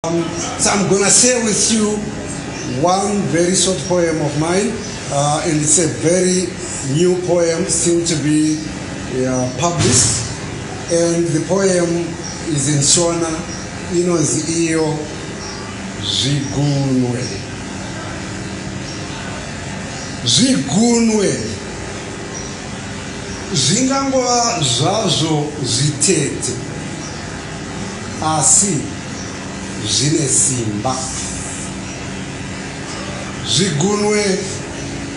Um, so I'm gonna share with you one very short poem of mine, uh, and it's a very new poem, still to be uh, published. And the poem is in Shona, inonzi iyo zvigunwe zvigunwe zvingangova zvazvo zvitete Asi zvine simba. Zvigunwe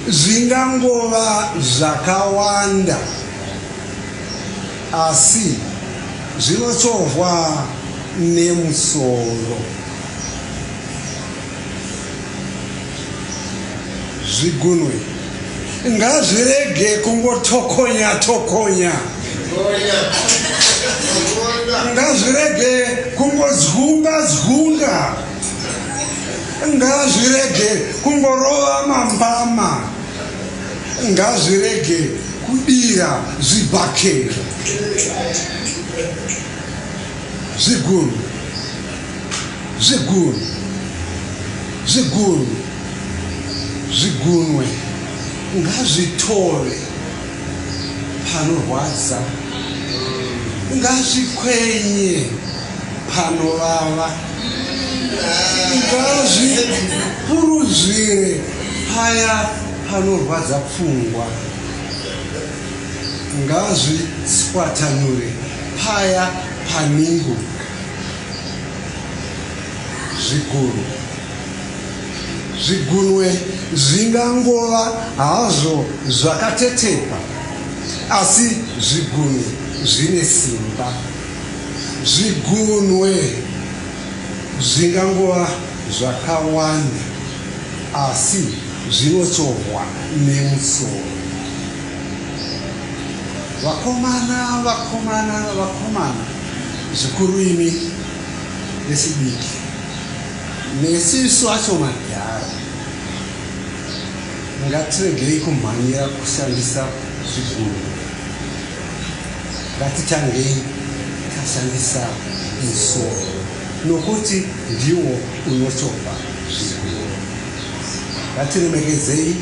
zvingangova zvakawanda asi zvinochovhwa nemusoro. zvigunwe ngazvirege kungotokonya tokonya ngazvirege kungodzunga dzunga ngazvirege kungorova mambama ngazvirege kudira zvibhakera zvigunwe Zvigunwe. Zvigunwe. Zvigunwe. Ngazvitore. Panorwadza. Ngazvikwenye. Panovava. Ngazvipuruzvire. Paya panorwadza pfungwa. Ngazviswatanure. Paya paningo. zvigunwe zvigunwe zvingangova hazvo zvakatetepa asi zvigunwe zvine simba zvigunwe zvingangova zvakawanda asi zvinotsvohwa nemusoro vakomana vakomana vakomana Zvikuru imi vechidiki nesu isu acho madhara ngatiregei kumhanyira kushandisa zviguru ngatitangei tashandisa musoro nokuti ndiwo unochopa zviguru ngatiremekedzei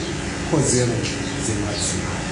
kodzero dzemadzimai